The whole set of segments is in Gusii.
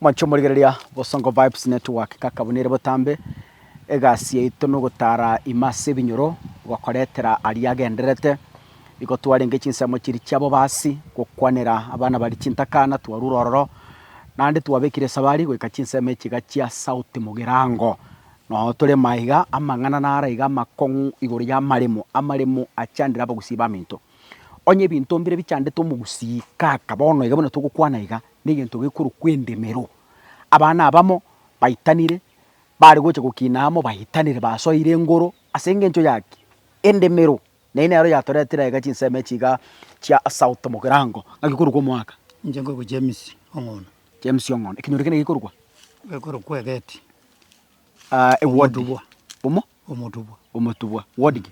Mwanche omorigereria Bosongo Vibes Network kaka buna ere botambe egasi yaito nogotara ime ase ebinyoro gokoretera aria agendererete. Igo twarenge chinsemo chiria chia bobasi gokwanera abana baria chintakana twarure ororo naende twabekire esabari goika chinsemo echi iga chia sauti mogirango. Noo tore maiga amang'ana naro iga amakong'u igoro y'amaremo, amaremo achandire abagusii baminto. Onye ebinto mbire bichandete omogusii kaka bono iga buna togokwana iga, negento gekorokwa endemero. Abana abamo baitanire bare gocha gokina amo baitanire basoire engoro ase engencho ya ki? Endemero. Na eye nero yatoretire aiga chinsemo echi iga chia South Mogirango. Ng'aki korokwa omoaka? Inche nkorokwa James Ong'ondo. James Ong'ondo. Ekenyoro kende gekorokwa? Gekorokwa Egeti. Aa ewodi. Omotubwa. Omo? Omotubwa. Omotubwa. Wodi ki?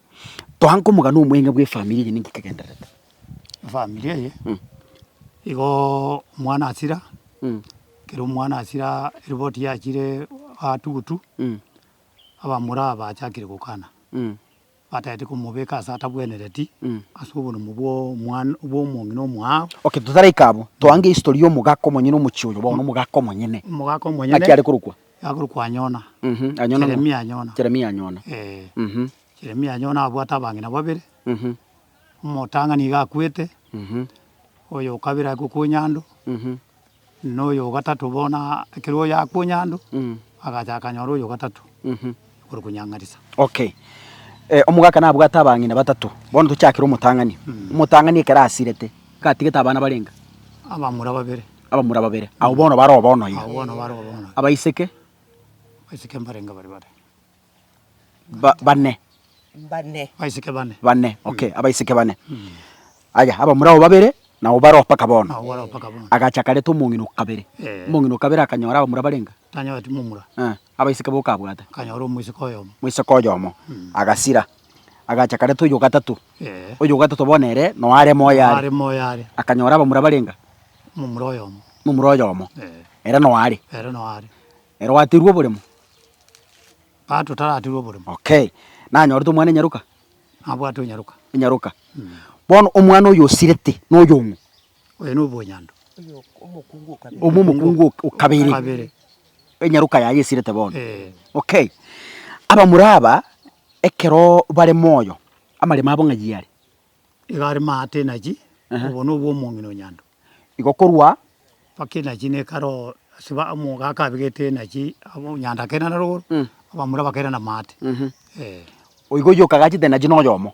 Toankomoga nomweng'e bw'efamiri eye ninki kegendererete? Efamiri eye, igoo omwana asira, ekero omwana asira eripoti yachire aatugutu, abamura aba bachakire gokana, batagete komobeka ase atabwenereti, ase oborumo bw'omwana bw'omong'ina omwaao. Okay, totaraika abwo, toange history ya omogaka omonyene omochie oyo bono, omogaka omonyene. Omogaka omonyene. Naki arekorokwa? Yakorokwa Anyona. Mh, Anyona ng'o? Jeremia Anyona. Jeremia Anyona. Ee. Mh. Jeremia Anyona abwate abang'ina babere, Mh. omotang'ani iga akwete, Mh. oyo o kabere ake okwa Onyando, Mh. na oyo o gatato bono a- ekero oyo akwa Onyando, Mh. agacha akanyora oyo o gatato. Mh. ore konyang'arisa. Okay. Eh, omogaka nabwate abang'ina batato. Bono tochakire omotang'ani. Mm. Omotang'ani ekero asirete, gatigete abana barenga? Abamura babere. Abamura babere. Abo bono bare obono iga. Abo bono bare obono. Abaiseke? Abaiseke mbarenga bare bare. Ba, bane. Bane. Abaiseke bane. Bane. Mm. Okay, mm. abaiseke bane. Mm. Aya, abamura abo babere, na obaro paka bono. Na obaro paka bono. Agacha kareta omong'ina okabere. Eh. Omong'ina okabere akanyora abamura barenga? Tanyora timomura. Eh. abaiseke boka abwate. Akanyora omoiseke oyomo. Omoiseke oyomo, agasira, agacha kare toyo ogatato, Ee. oyo ogatato bono ere no are moyo are. Are moyo are. Akanyora abamura barenga? Momura oyomo. Momura oyomo, Ee. ere no are. Ere no are. Ere oaterwe oboremo? Aa totaraterwa oboremo. Okay. Nanyorete omwana enyaroka? Nabwate onyaroka. Enyaroka. Bono omwana oyo osirete noyo ng'o? Oyo nobonyando. Omo omokungu okabere. Enyaroka yaye esirete bono. Okay. Abamura aba ekero bare moyo amaremo abo ng'ai are? Iga are maate nachi, obo nobwo omong'ina o Nyando. Igo korwa? Mpaka enachi ne karo ase ba omoka akabegete enachi abo Nyando akerana rogoro, abamura bakerana maate. Oigo oyio okagachete enachi noyomo.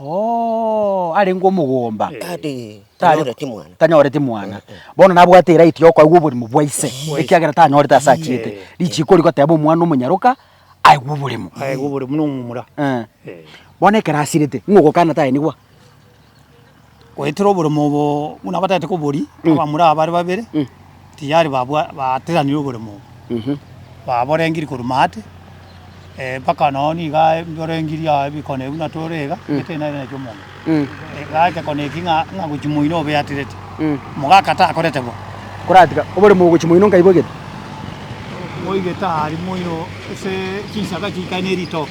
Oo, arenge omogomba. Tari- Tari- tanyoreti mwana. tanyoreti mwana bono nabwate eraiti yokoigwa oborimo bwa ise ekiagera tanyorete ase achiete Eh. richiko rigoteba omwana omonyaroka aigwe oborimo Aigwe oborimo na omomura. Eh. Eh. bono ekero asirete ng'ogokana taenigwa Goetera oboremo obo buna batagete koboria, abamura aba bare babere tiyari babwa baateranire oboremo obo, baborengirie korwa maate, eh, mpaka nonye nigo aye mborengirie aye bikone buna tore iga, gete nere naki omonto. Iga ekekone eki ng'a ng'a gochi moino obe aterete, omogaka takorete bo. Koratiga oboremo ogochi moino nkaibwa egete. Moigete aria moino ase chinsaga chiikare ne ritoke.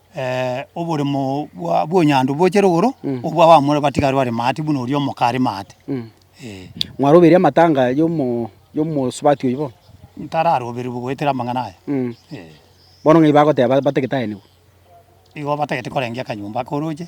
oboremo bwa bw'onyandu bochire igoro, obwa abamura batigari bare maati buna oria omoka are maate. Ee. Mwarobeire amatanga y'omo y'omosubati oyio bono? Ntararoberigwe goetera amang'ana aya. Mh. Ee. Bono ng'ai bagoteba batagete aye nigo? Igo batagete korengia akanyomba akoroche.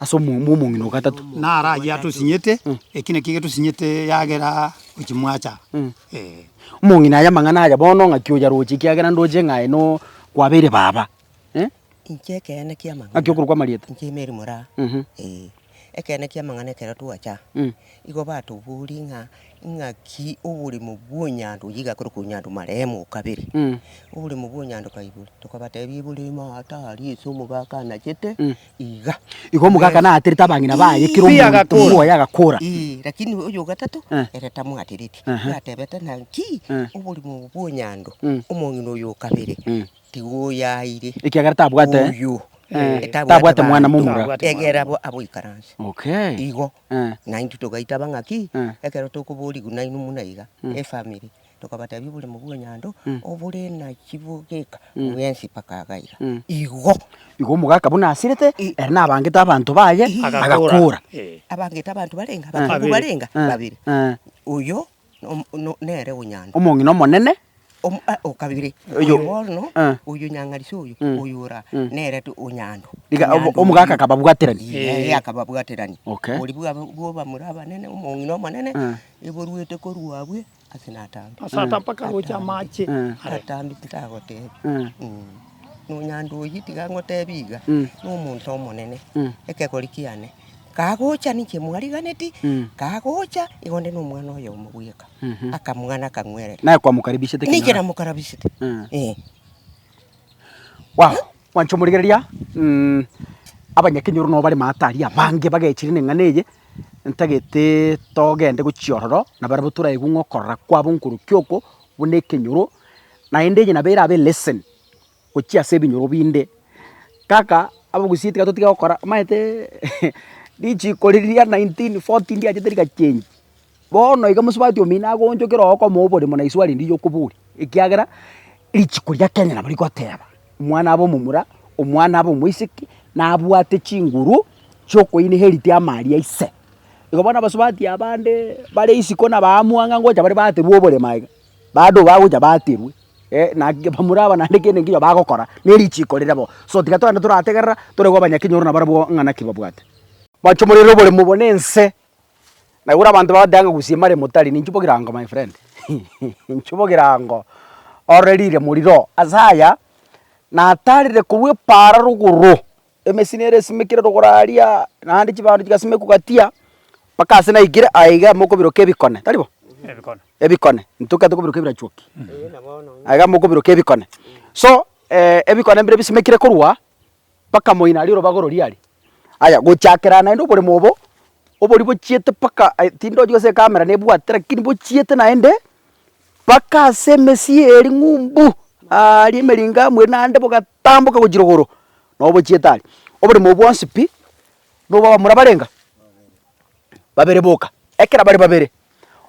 ase omwombe omong'ina o gatato. Naro ayio atosinyete, eki nakio getosinyete eagera gochia mwacha. Ee. Omong'ina aye amang'ana aya bono ng'aki oyaroche ekiagera ndoche ng'a aye no kwabeire baba. Eh? Inche ekeene kia amang'ana. Ng'aki okorokwa amarieta? Inche Mary Moraa. Mhm. Ee. Ekeene kia amang'ana ekero twacha, Mm. igo batoboria ng'a ng'aki oboremo bwa Onyandu, oyio igakorokwa Onyandu marehemu o kabere. Mm. Oboremo bwa Onyandu kaigure. Tokabatebia eboremo aa tari ase omogaka anachete, Mm. Igo omogaka naaterete abang'ina baye, kera omonto omoya agakora. Lakini oyo o gatato ere tamwatereti, bwatebete ng'a, Inki! Oborimo obo bw'onyando! Omong'ina oyo o kabere tiga oyaire, ekiagera tabwate oyo, tabwate mwana momura, egera aboikaranse. Igo naintwe togaitaba ng'a ki, ekero tokoboriwu nainwe buna iga, efamiri. Tokabatebia oboremo bw'enyando obore na chibogeka bwensi mpaka agaiga. Igo. Igo omogaka buna asirete, ere nabangete abanto baye, agakora. Abangete abanto barenge abakungu barenge babere. Oyo nere o nyando. Omong'ina omonene. O kabere. Oyo bono, oyo nyang'arisi oyo, oyo ora nere o nyando. Omogaka akababwaterania. Ee, akababwaterania. Okay. Oria bw'abamura abanene, omong'ina omonene, eborwete korwa abwe ase natambe. Ase atambe akaroche amache are. Natambe titagotebi. Nonya ndoiyi tiga ngotebi iga, nomonto omonene, ekegori kiane kagocha ninche mwariganeti, kagocha igo nde nomwana oyomo bweka, akamwana akangwerera. Naye kwamokaribishete kino are. Ninche namokarabisete, eh. Wow! Mwancha omorigereria, mm abanyakenyoro nabo bare maate aria abange bagechire neng'ana eye, ntagete togende gochia ororo, na barabwo toraigwe ng'a okorora kwabo nkorokia oko buna ekenyoro, naende eye nabo erabe lesson gochia ase ebinyoro binde. Kaka, abagusii tiga totige gokora, omanyete eeh richiko riria nineteen forty ndiachete rigachengi. Bono iga mosubati omino agoonchokera ogokoma oborimo na iswe arende yokoboria, ekiagera richiko ria Kenya nabo rigoteba, omwana abe omomura, omwana abe omoiseke, nabwate chinguru chiokoyi inherit ama aria ise. Igo bono abasubati abande bare isiko na baamua ng'a ngocha bare baaterwe oboremo aiga, bado bagocha baaterwe naki bamura aba naende kende keginya bagokora ne richiko rire bo. So tiga togende torategerera, torego abanyaKenya oro nabarabwo ng'a naki babwate. Mwache morere oboremo obo na ense Naigure abanto bagoteba ng'a gusima ria motari ninchuba egerango my friend, nchuba egerango ororeriire moriro oo. Ase aya, natarire korwa epaara rogoro, emesi nere esimekire rogoro aria, naende chibando chigasimekwa gatia, mpaka ase naikire aye iga mokobiroka ebikone, tari bo? ebikone, ntoke atoke kobiroka ebirachuoki, aye iga mokobiroka ebikone, so ebikone mbire bisimekire korwa bakamoina aria erobaga ororia aria. Aya gochakera naende oboremo obo, oboria bochiete mpaka ai tindi ochi gose ecamera nebwate lakini bochiete naende mpaka ase emesii eye eri ng'umbu aaria emeringo amwe naende bogatamboka gochia rogoro, nabo bochiete aria. Oboremo obwo bwonsi pi, nobo abamura barenga? babere boka, ekero bare babere,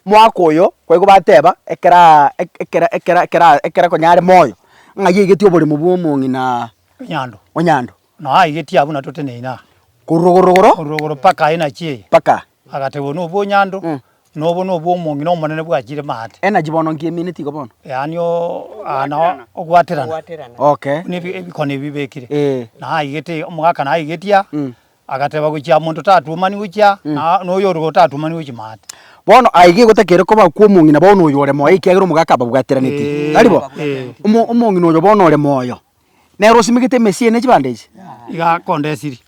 Mwaka oyo kwaigwa bateba ekeraa ekera ekera ekera ekera konya are moyo ng'a aigeti oboremo bwa omong'inaa Onyando. Onyando. Noo aigeti abwo na toteneine aa. Korwa rogoro rogoro. Korwa rogoro paka aye na chieye. Paka. Agateba obo nobwo Onyando. Mm. Na obo nobwo omong'ina omonene bwachire maate. Energy bono nki emineti igo bono? Yaani oo aa nao ogwaterana. Ogwaterana. Okay. Buna ebi ebikoni ebi bibekire. Eeh. Naaigete omogaka naigetia. Mm. Agateba, Gochia monto tatuomani gochia, na na oyorigoro tatuomani gochia maate. Bono aye iga gotakeire koba okwo omong'ina bono oyo ore moyo ekiagera omogaka ababwateranetie. Ee, Tari bo? ee. Omo- Omong'ina oyo bono ore moyo, nere osimegete emesi eye ne chibande echi. Iga akondesiri,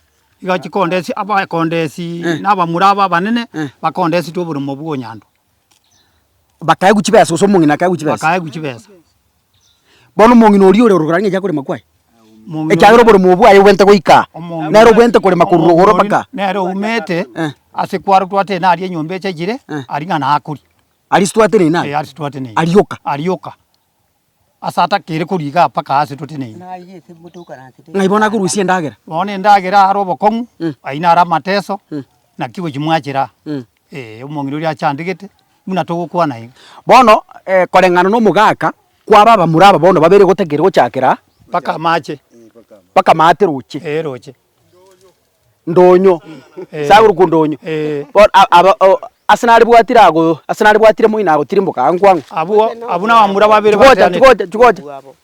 iga chikondesi abakondesi na abamura aba abanene, bakondesitwe oboremo bwa onyandwa, Bakaegwa chibesa, gose omong'ina akaegwa chibesa. bakaegwa chibesa. Bono omong'ina oria ore ororo ng'echa korema kwaye, ekiagera oboremu oo bwaye obwenerete goika aa, nere obwenerete korema korwa rogoro mpaka aa. Nere oumete ase kwaro twatene na aria enyomba echayire, aria ng'a nakoria. Aria sitwatene ina? Ee, aria sitwatene ina. Arioka? Arioka, ase atakeire koria igaa mpaka aa ase totene ina. Ng'ai bono akorusia endagera? Bono endagera aro obokong'u, ayio naro amateso, naki gochia mwachera aa. Ee, omong'ina oria achandegete, buna togokwana iga. Bono, koreng'ana nomogaka kwaba abamura aba bono babere gotakeire gochakera. Mpaka amache. Mpaka amaate roche. Ee, roche. Ndonyo. Ee. Saguru kwo ndonyo. Ee. Bono aba o, ase narebwatire ago, ase narebwatire moino agotirimboka ang'u kwang'u. Abwo, abwo nabamura babere. Chigocha, chigocha, chigocha.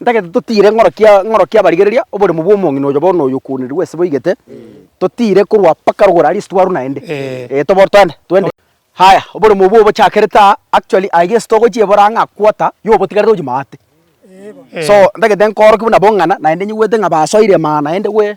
Ntagete totiire ng'orokia ng'orokia abarigereria oboremu bw'omong'ina oyo bono oyo okwonerigwe ase boigete, totiire korwa mpaka rogoro aria ase twarwa naende. Ee, tobo toende, toende. Haya, oboremu obwo obochakerete aa, actually aiga ase togochia ebora ang'a quarter ya obotigarete ochia maate. So, ntagete nkoorokia buna bong'ana naende nyigwete ng'a basoire maa naende gwe.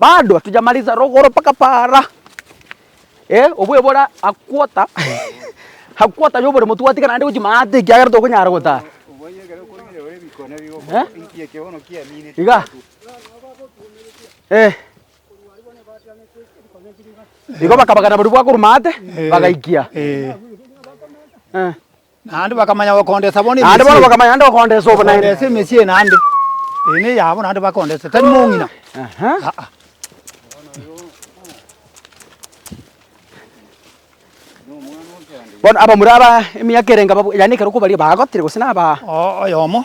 Bado hatujamaliza rogoro mpaka para eh obwebore a quarter a quarter ya oboremo twatigana naende gochia maate ekiagera tokonyara gotara eh igaa eh igo bakabagana barabwo bakorwa maate bagaikia eh. Naende bono bakamanya gokondesa obonaene. Bakondesa emesie eye naende, eye neyabo naende bakondesa, tari mong'ina, aa. Bono abamura aba emiaka erenge, yaani ekero kwabaria, bagotire gose naba. Oyomo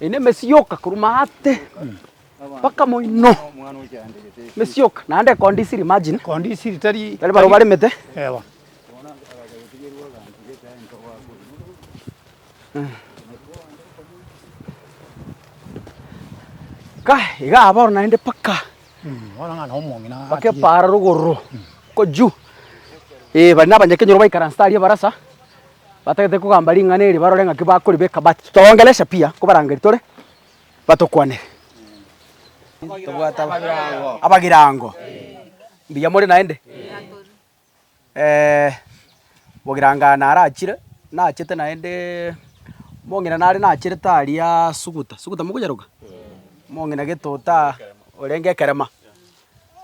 Eyi nemesi yoka korwa maate mpaka moino, emesi yoka naende condisiri imagine. Condisiri tari barobwo baremete. Ewa. Igaa bono naende mpaka. Bakepaara rogoro koyio. Ee, baria nabanyakenyoro baikaransete aria ebarasa, batagete kogamba ring'ana eri barore ng'aki bakoribeka, but toongereresia pi, nkobarangeri tore batokwanere. Abagirango, mbuya more naende? Bogirangane arachire, nachete naende omong'ina nare nacherete aria Suguta, Suguta mokonyeroka? Omong'ina Getota orenge ekerema,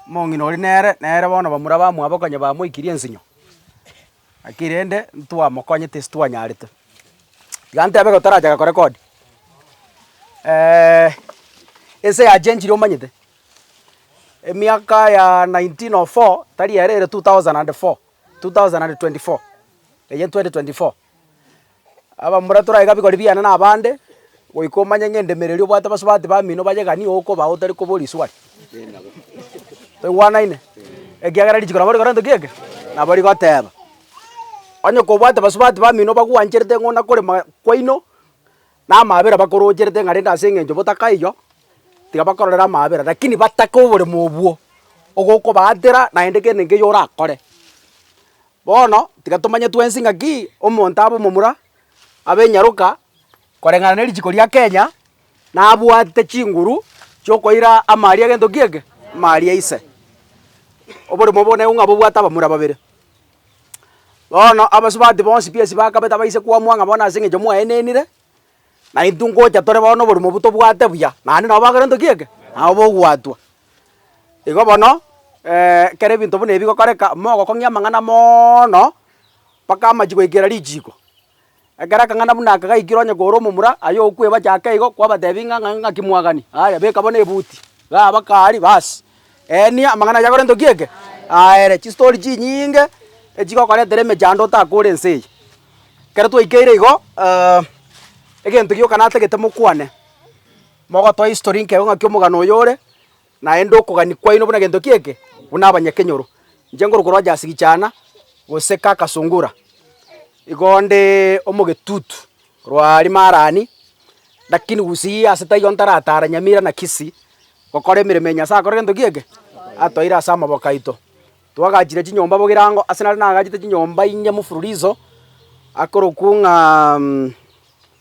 omong'ina oria nere, nere bono bamura bamwabo konya bamoikirie ensinyo, lakini rende ntwamokonyete ase twanyarete. Tiga ntebe iga toracha korekodi ense yachenchire omanyete. Emiaka ya 1904 tari ere ere 2004, 2024, eye 2024. Abamura tore aiga bikori biane na abande, goika omanye ng'a endemereri obwate abasubati bamino baye gani nigo okoba otari koba orisuari. Toigwanaine? Ekiagera richiko nabo rikorentwe ki eke? Nabo rigoteba. Onye kobwate abasubati bamino bagwancherete ng'a onakore ma kwaino, Na amaabera bakorocherete ng'a rende ase engencho botakaiyo, tiga bakororere amaabera, rakini batake oboremo obwo ogokobaatera naende kende nkeiyo orakore. Bono, tiga tomanye twensi ng'akii, omonto abe omomura, abe enyaroka, koreng'ana ne richiko ria Kenya, nabwate chinguru chiokoira amaaria agento kiege, amaaria aise. Oboremo obo naigo ng'a bobwate abamura babere. Bono abasubati bonsi pi esibaa kabete baise kwamua ng'a bono ase eng'encho mwaenenire, na intwe ngocha tore bono oborimo obo tobwate buya, naende nabo bakorentwe ki eke? Nabo bogwatwa. Igo bono ekero ebinto buna ebi bigokoreka, mogokong'ia amang'ana moono, mpaka amache goikera richiiko, Ekero akang'ana buna aka gaikire onye kore omomura, aye okwebachia ake igo, kwabateebia ng'a ng'a ng'aki mwagani? Aya, beka bono ebuti, igaa bakaaria, baas. Eenia, amang'ana aye akorentwe ki eke? Aere. Chistori chinyinge echigokoretera emechando otake ore ense eye. Ekero twaikeire igo, egento gioka natagete mokwane, mogotoe history nkego ng'aki omogano oyo ore, Naende okogania kwaino buna gento ki eke, buna abanyakenyoro, inche ngoro korwa Jaasigichana, gose Kakasungura, igo nde omogetutu rwa Rimarani, lakini gusii ase taigo ntaratara Nyamira na Kisii gokora emeremo ya Nyasaye akore gento ki eke, atoeire ase amaboko aito. Twagachire chinyomba bogirango, ase nare nagachete chinyomba inye mufululizo, akorokwo ng'a.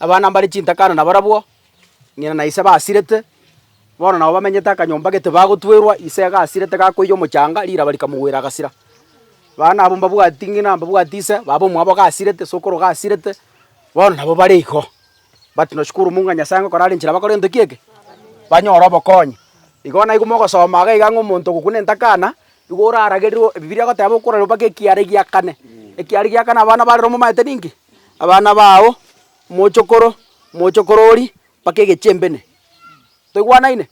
Abana mbare chintakana nabarabwo, ng'ina na ise basirete, bono nabo bamenyete akanyomba gete bagotwerwa, ise gasirete gakoiywa omochanga, riraba rikamogwera agasira. Abana abwo mbabwati ng'ina, mbabwati ise, baba omwabo gasirete, ise okoro gasirete, bono nabo bare igo. But noshukuru Mungu ng'a Nyasaye ngokora are inchera bakore gento ki eke, banyore obokonyi. Igo naiko mogosoma iga ng'a omonto ogokwa nentakana, igo oraragerirwe, Ebibiria egoteba okorerwa mpaka ekiara egia kane, ekiara egia kane abana barerwa momaete ninki? abana bao, omochokoro, omochokoro oria, mpaka egechembene. Toigwanaine?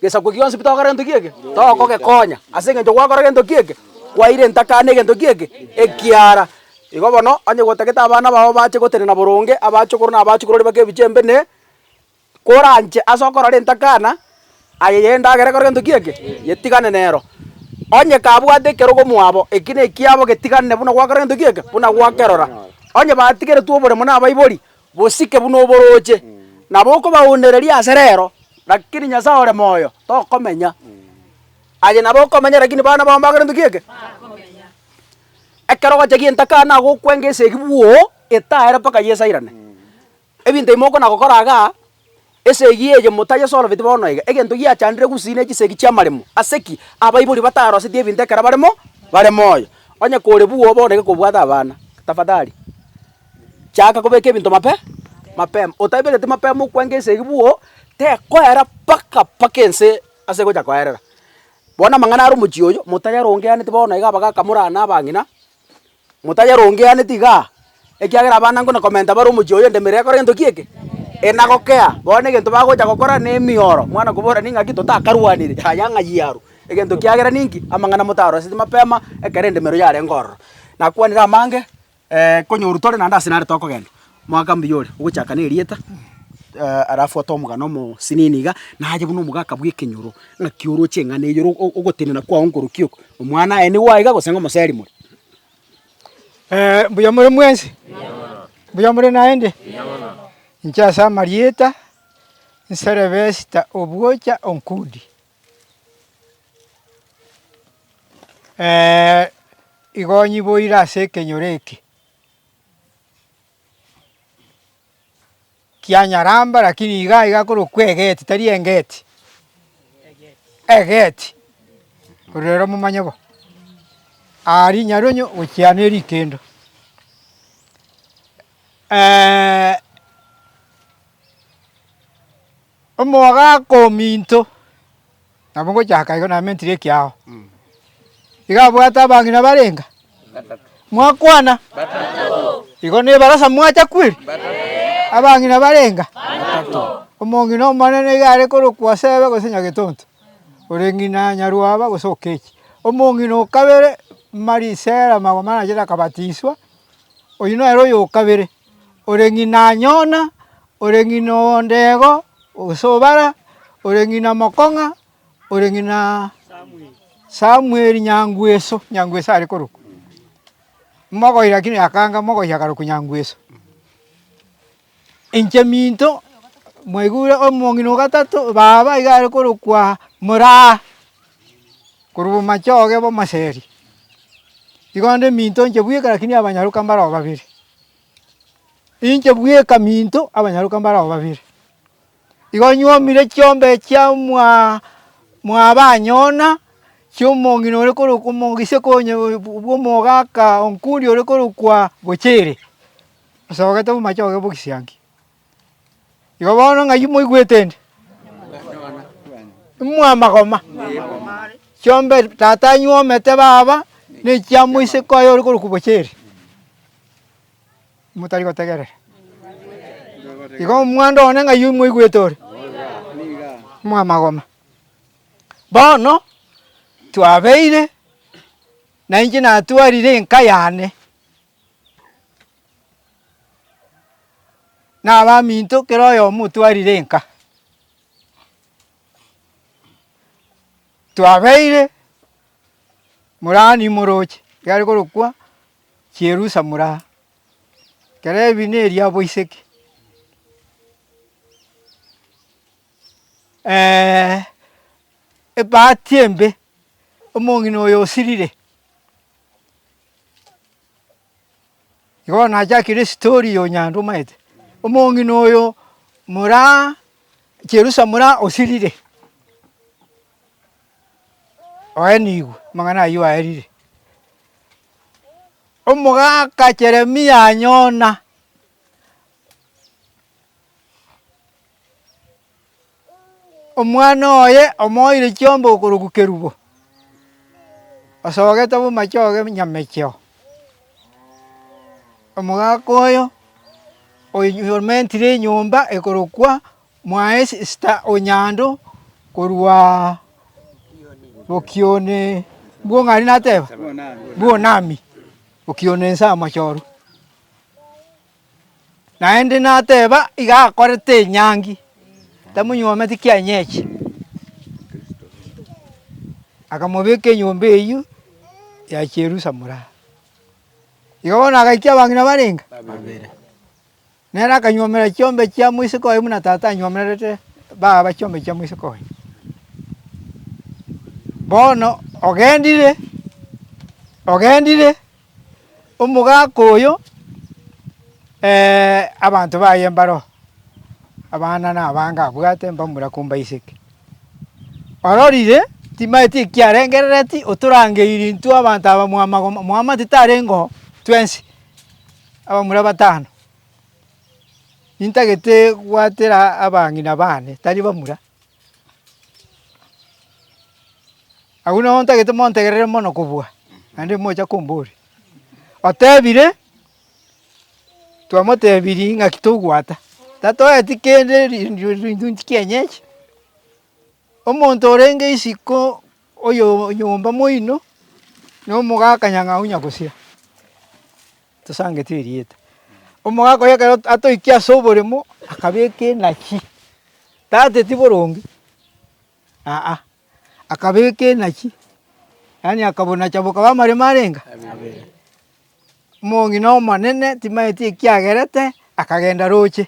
Gesaku gionsi pi togokora gento ki'eke, togokogekonya ase eng'encho gwakora gento ki'eke, kwairenta kando egento ki'eke ekiara. Igo bono, onye gotagete abana bao bache gotenena boronge, abachokoro na abachokoro oria mpaka ebichembene. Koranche ase okorora entakana, aye y'endagera ekore gento ki'eke, yetigane nero. Onye kabwate ekerogo mwabo, eki nekiabo getigane buna gwakora gento ki'eke, buna gwakerora. Onye batigeretwe oboremo nabaibori, bosike buna oboroche. Nabo okobaonereria ase rero, rakini Nyasae ore moyo, tokomenya. Aye nabo okomenya rakini bana bao mbakore gento ki'eke. Ekero ogocha gi'entakana gokwenge esegi bwoo, etaere mpaka yesairane. Ebinto ebi mokona gokora iga, Esegi eye motayesorobeti bono iga, egento giachandire gusii ne chisegi chi'amaremo. Ase ki? Abaibori bataroseti ebinto ekero bare mo bare moyo. Onye kore bwoo bono iga kobwate abana, tafadhali chaka kobeka ebinto mape mapema. Otabereti mapema okwanga esegi bwoo, tekoera mpaka mpaka ense ase egocha koerera. Bono amang'ana are omochie oyo, motayerongeaneti bono iga abagaka morana abang'ina. “Motayerongeaneti iga, ekiagera abana ingo na komenta bare omochie oyo endemera ekore gento ki eke, enagokea. Bono egento bagocha gokora nemioro, mwana okobora, ning'aki totakarwanire? Yaya ng'ai aru? Egento kiagera ninki? Amang'ana motaroroseti mapema ekero endemero yarenge ororo. Nakwanire amange, ee, konyoru tore naende ase nare tokogenda. Mwaka mbuya ore, ogochaka n'erieta. Arafuate omogano omosinini iga, naye buna omogaka bw'ekenyoro, ng'aki oroche eng'ana eye ogotenena kwao nkorokia oko, omwana aye nigo aiga gose ng'omoseri more? Mbuya more mwensi? Mbuya more naende? Inche ase amarieta, nserebe Esta Obwocha Onkudi. Igo nyiboire ase ekenyoro eke. Kianyaramba, lakini iga iga korokwa egeti, tari engeti, egeti, korende ere omomanye bo, aa rinyarionye gochia ne rikendo. omogaka ominto. Nabo ngochaka igo namentire ekiao. Iga abwate abang'ina barenge? Mwakwana? Igo nebarasa mwacha kweri? Abang'ina barenge? Omong'ina omonene iga are korokwa Sebe gose Nyagetonto, ore ng'ina Nyarwaba gose Okechi. Omong'ina o kabere Mari Sera magoma anachete akabatiiswa, oyio nere oyo o kabere. ore ng'ina Yona, ore ng'ina o Ndego, gose o Bara, ore ng'ina Mokong'a, ore ng'ina Samueli Nyangweso, Nyangweso are korokwa. Mogoi lakini akanga mogoi akarokwa Nyangweso. Inche minto mwaigure omong'ina o gatato baba iga are korokwa Moraa. korwa omomache oye bw'omoseri. Igo naende eminto inche bweka lakini abanyaroka mbare ao babere. Inche bweka minto abanyaroka mbare ao babere. Igo nywomire chiombe chia omwa mwabanyona, chia omong'ina ore korokwa omogiseke onye bw'omogaka onkundi ore korokwa Gochere, osogete omomache oye bw'ogisianki. Igo bono ng'ai moigwete ende? Imwe amagoma. Chiombe tata anywomete baba, na echiamo isiko aye ore korokwa bocheri. Motari gotegerera. Igo omwando one ng'ai moigwete ore? Imwe amagoma. Bono, twabeire, nainche natwarire enka yane. nabaminto kera oyomo otwarire enka. Twabeire morani moroche egare korokwa Chierusa moraa, kera ebi neria boiseke ebahati embe, omong'ina oyo osirire. Igo bono nachakire esitori eye Onyandu omaete, omong'ina oyo moraa Cherusa moraa osirire, oenigwe amang'ana ayio aerire. Omogaka Jeremia anyona. Omwana oye omoeire chiombe okorokwa kerubo, osogete bomachoge nyamecheo. Omogaka oyo omentire enyomba ekorokwa Mwaesita o Nyando korwa Bokione mbwo ng'a aria nateba? Bwonami, Bokione Nsamachoru. Naende nateba, Iga akorete enyangi, tamonyuometi kianyechi. Akamobeka enyomba eyio ya chierusa mora. Igo bono agaikia abang'ina barenge? Babere. Nere akanyuomera chiombe chia moiseke oye buna tata anyuomerete baba chiombe chia moiseke oye. Bono ogendire, ogendire Omogaka oyo, abanto baye mbaroo, abana na abange abwate mbamura kombaiseke. Ororire timaeti ekiarengerereti otorangeiri intwe abanto aba mwa magoma mwa amato tarengeo twensi, abamura batano, intagete gwatera abang'ina bane tari bamura. Agwo nabo ntagete montegerere mono kobua, naende mocha komboria. Otebire, twamotebirie ng'aki togwata, tatoeti kende ri- ri- ri- rintunti kienyeji, omonto orenge isiko. Oyonyomba moino nomogaka nyang'au nyagusira, tosangeti erieta. Omogaka oye ekero atoikie ase oboremo akabeka enachi, tateti boronge aa, akabeka enachi, yaani akabonacha bokaba amaremo arenga? Abere. Omong'ina omonene timanyeti ekiagerete akagenda roche.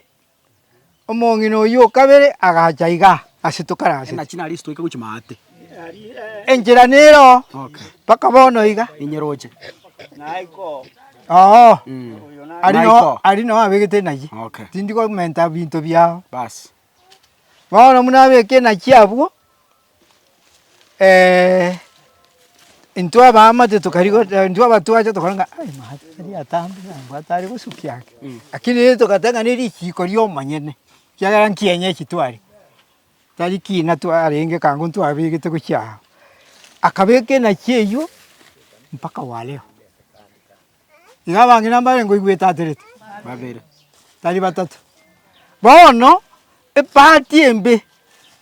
Omong'ina oyio o kabere agacha iga ase tokarasete. Enchera nero mpaka bono iga. Oo, aria noo, aria noo abegete enachi. Tindi komenta binto biao. Bono buna abeke enachi abwo, intwe abaamate tokarigo intwe abatwache tokora ng'a ai mahati taria atambe nambwate are gosukia ake, lakini rende togateba ng'a ne risiiko ri'omonyene, ekiagera nkienyechi tware, tari kiina twarenge kaang'u ntwabegete gochia aa. Akabeka enachi eywo mpaka wa leo. Iga abang'ina mbare ngoigwetaterete babere, tari batato. Bono ebahati embe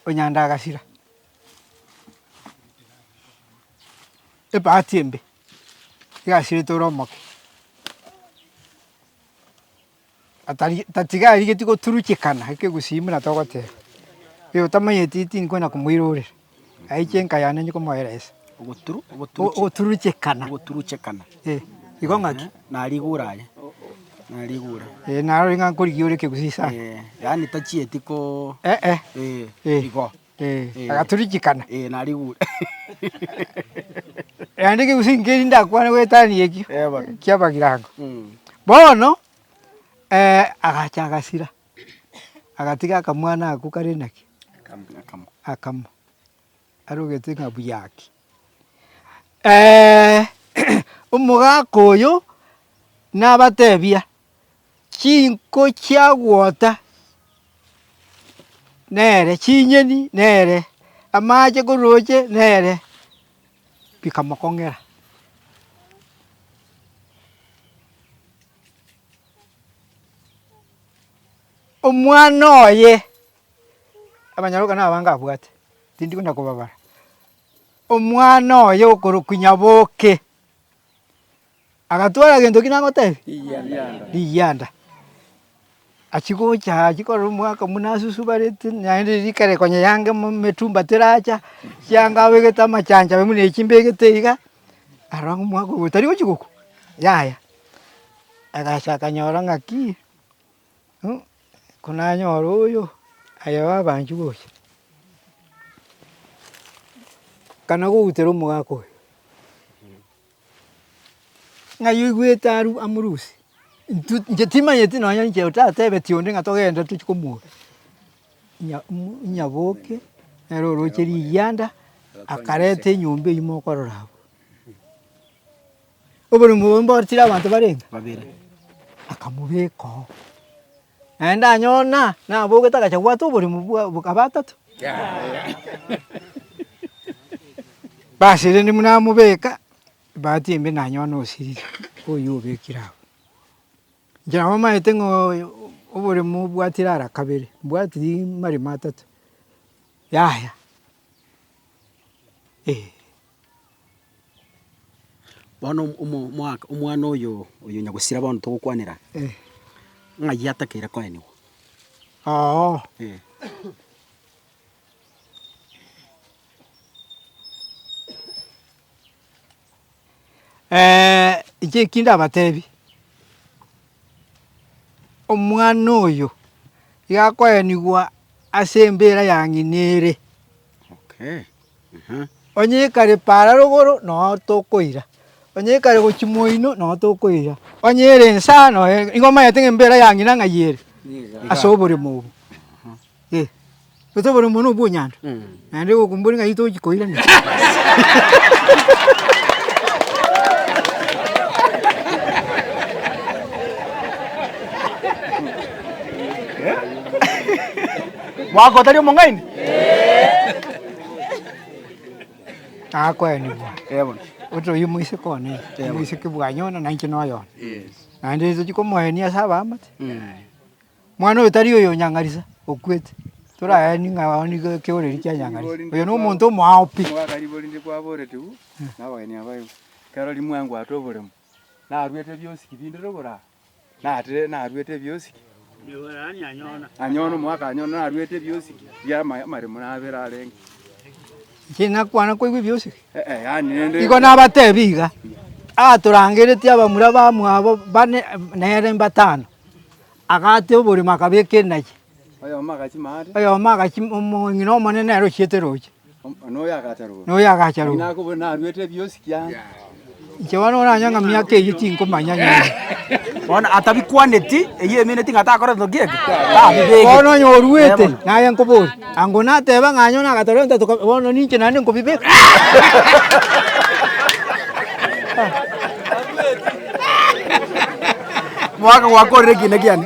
Onyanda agasira, ebahati embe igasirete ore omoke. Tatiga arigetie goturuchekana eke egusii buna togoteba, ee otamanyeti tinkwenda komoirorera, aiche enka yane inche komoera esa. Ogoturuchekana. Ogoturuchekana. Ee, igo ng'aki? Narigure aye, narigure. Ee, narorire ng'a nkorigia ore ekegusii sana. Yaani tachieti ko. Ee. Igo. agatorichikana. Naende gose inki eri ndakwane goetania ekio ki'ebagirango. Bono agacha agasira, agatiga akamwana ako kare naki? akamo, arogete ng'a buya ake. Omogaka oyo nabatebia. Chinko chiagwota nere, chinyeni nere, amache korooche nere, bikamokong'era. Omwana oye, abanyarwanda kare nabange abwate, tindi kwenda kobabara, omwana oye okorokwa Nyaboke. Agatwara gento ki nagotebia? Rigianda. Achia gocha achia korora omwaka buna asusubarete naende rika ere konya eange emetumba teracha, chianga abegete amachancho aye buna echi mbegete iga, arora ng'a omwaka oyo tari gochia gokwa, yaya. Agacha akanyora ng'aki konanyore oyo, aye babanchwa gocha. Kana goutera omogaka oyo. Ng'ai oigwete aru amoruse? Intwe inche timanyeti nonye inche otatebeti onde ng'a togende tochie komwoka. Nya mo nyaboke nere oroche rigianda akareta enyomba eywo mokorora abwo. Oborimo obwo mboreti abanto barenge? Babere. Akamobeka oo. Naende anyona nabogete agacha gobwata oborimo bw'abatato. Basiriri buna amobeka ebahati embe nanyona osiriri oyio obekire agwo. Inche nabo maete ng'a oborimo obwatire ara kabere, mbwati rimaremo atato, yaya. Bono omo- omo- omwaka omwana oyo oyo nyagusira bono togokwanera, ng'ai atakeire koenigwa? Oo, Eh. inche eki ndabatebi, omwana oyo iga akoenigwa ase embera yang'ina ere. Onye ekare paara rogoro nonya tokoira, onye ekare gochia moino nonya tokoira, onye ere ensa nonya igo omanyete ng'a embeera ya ng'ina ng'ai ere ase oboremo obwo. Ase oboremo obo nobwonyando naende egokumboria ng'ai tochia koira ng'ina. Mwaka otari omong'aini? Nakoenigwa. Eh, bono. Otoiyo moiseke one, moiseke bwanyi one, nainche noyo one. Naende tochia komoenia ase abaamate. Mwana oyo tari oyo nyang'arisa, okwete. Toraeni ng'a oo nigo ekeoreri kia nyang'arisa. Oyo nomonto omoao pi. Omwaka ribo rinde kwaboretigwe nabageni aba igo, ekero rimuengwate oboremo, naruete biosi ki binde rogoro aa, Natire naruete ebiosiki. Anyona omwaka anyona naruete ebiosiki bia ama- amaremo nabere arenge. Inche nakwana koigwa ebiosiki. Eh, eh, yaani rende- Igo nabatebia iga, atorangeretie abamura bamwabo bane nere mbatano, agatia oborimo akabeka enache, Oyomo agachia maate. oyomo agachia omong'ina omonene nere ochiete roche. noyo agacharogwa. Inche bono oranyang'a miaka eyio tinkomanya nyore. Bono atabikwaneti, eyio emeneti ng'a takoreti ki eke? Tabibegeti. Bono onye oruete, naye nkoboria, ango nateba ng'a onye nagatara ento toka, bono ninche naende nkobibeka. Mwaka gwakorire ekiina kiane.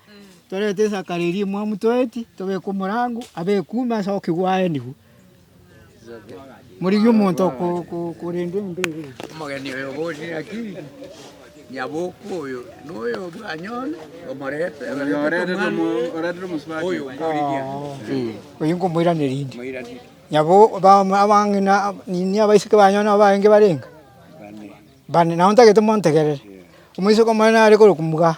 Torete esaka riria emwamu toeti, tobeke omorango, abe ekume ase okigwa aenigwe. Morigie omonto korenda enyomba eye. Omogeni oyo obosie naki, nyaboku oyo noyo bwanyona, omorete oyo mborigia. Oyo nkomoirania rinde. Nyabo abang'ina nini abaiseke banyu nabo barenge barenga? Bane. Bane, nabo ntagete montegerere. Omoiseke omonene are korokwa mugaa.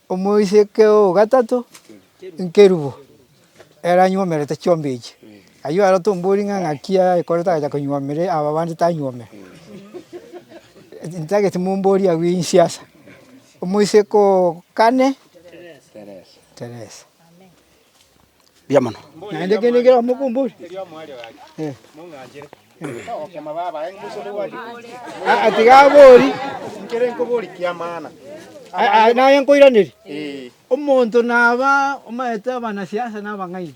Omoiseke o gatato nkerubo ere anywomerete chiombe echi. Ayio aro tombori ng'a ng'aki ayekorete agacha konywomera aba bande tanywomera. Ntagete mombori agwo inse asa. Omoiseke o kane Teresa. mbuya mono. Naende kende kera omokumbori Aa, tiga abori Nkere nkobori kiamana. Aa, naye nkoiraneri omonto naba omaete abanasiasa na abang'aini.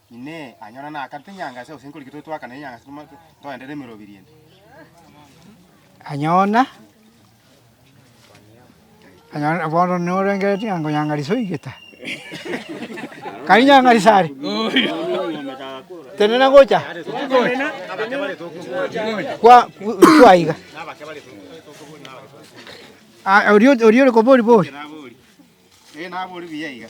Inee! Anyora nakarete enyanga ase obosemi koriki tore twakana enyanga ase toma toenderere emerobiri ende? Anyona, anyona bono norengeretie ng'a nkonyanga risoe igeta, kari nyanga risare, tenena ngocha kwa kwaiga. Aya oria oria ore kobori bori. Ee, nabori buya iga.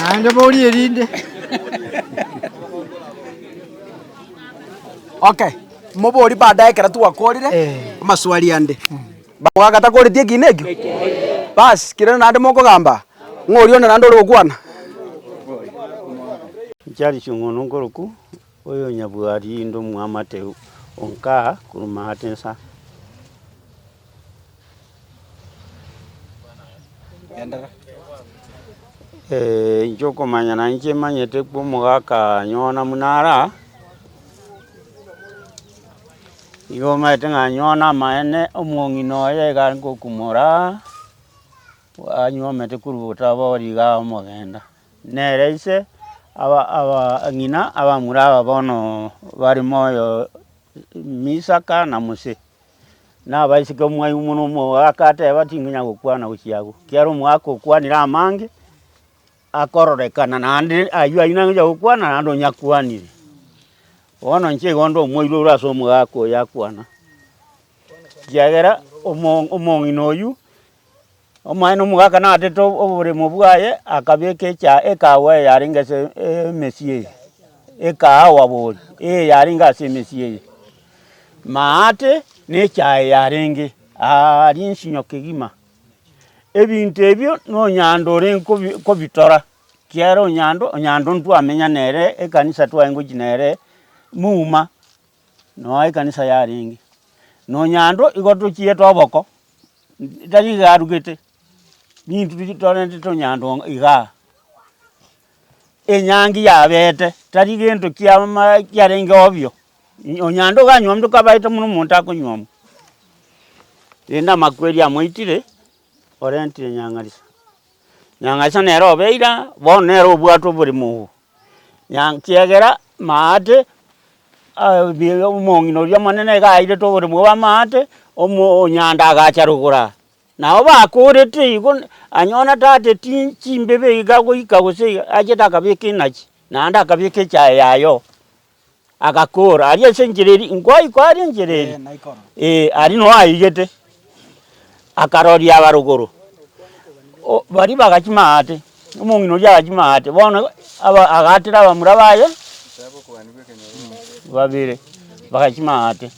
Naende borie erinde. Okay. Moborie baada ekero twakorire Eh. amaswali ande. Bagoaka atakoretie ekina ekio. Bas, kirende naende mokogamba ng'a oria onde naende ore gokwana. Nchiari chi'ong'ondo nkoroku Oyonyabwari inde omwamate onka korumate insa. Ee, inche okomanya nainche emanyete kwa omogaka nyona muna ara, igo omanyete ng'a nyona amaene omong'ina oye iga aringokumora, anyuomete korwa obotabori igaa omogenda. Nere ise abang'ina abamura aba bono bare moyo n'Isaka na Mose, na abaiseke omwaigu mono omogaka ateba, Tinkonya gokwana gochia agwo, ekiagera omogaka okwanire amange akororekana naende ayio ayio nare gochia gokwana naende onye akwanire. Bono inche igo nde omoiroro ase omogaka oyo akwana, ekiagera omong'ina oyio. Omonene omogaka naatete oboremo bwaye, akabeka echa ekaawa eyarenge ase emesii eye, ekaawa boori eye yarenge ase emesii eye, maate na echaye yarenge aaaa rinsinyo kegima. Ebinto ebio na onyando ore nkobi kobitora, kiagera onyando, onyando ntwamenya nere ekanisa twaye ngochia nere muma. Noa ekanisa yarenge, nonyando igo tochiete oboko, tari iga arugete, ninto torente tonyando iga igaa. Enyangi yabete, tari gento kia ma kiarenge obio, onyando iga anywomete okabaete buna omonto akonywomwa, rende amakweri amoitire, orentire nyang'arisa. Nyang'arisa nere obeire aa, bono nere obwate oboremo obo, Kiagera maate omong'ina oria omonene nigo airete oboremu bw'amaate, omonyanda agacha rogoro aa. Nabo bakorete igo, anyona tata etinyi chimbebe iga goika gose iga, achete akabeka enachi, naende akabeka echaye yaye oo. Agakoora aria ase enchera eria, Inkoaikwa aria enchera eria? Ee, aria noo aigete. Akaroria abarokoro, o, baria bagachia maate, omong'ina oria agachia maate, bono aba agaatera abamura baye babere, bagachia maate.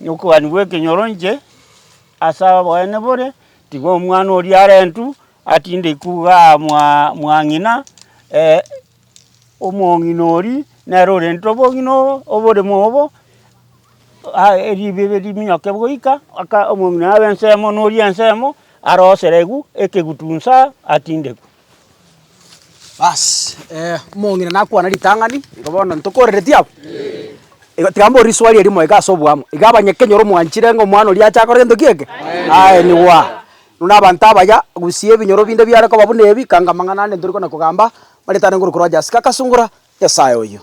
Okobani bw'ekenyoro inche ase oboene bore, tiga omwana oria arentwe, atinde ikuuga aa mwa mwa ng'ina Omong'ina oria nere orente obong'ina obo oboremo obo, ribibe riminyoke goika, aka omong'ina abe ensemo na oria ensemo aroserigwe ekegutu nsa atindekwe. Baasi omong'ina nakwane ritang'ani, igo bono ntokorereti abwo? Igo tiga mbore riswali erimo iga ase oboamo, iga abanyeKenya ore omwanchire ng'a omwana oria ache akore gento ki eke? Aye nigo aa. Buna abanto abaya, gusia ebinyoro binde biare koba buna ebi, kanga amang'ana ande ntori kona kogamba, maretare nguru korwa Jessica, akasungura, Nyasae oyo.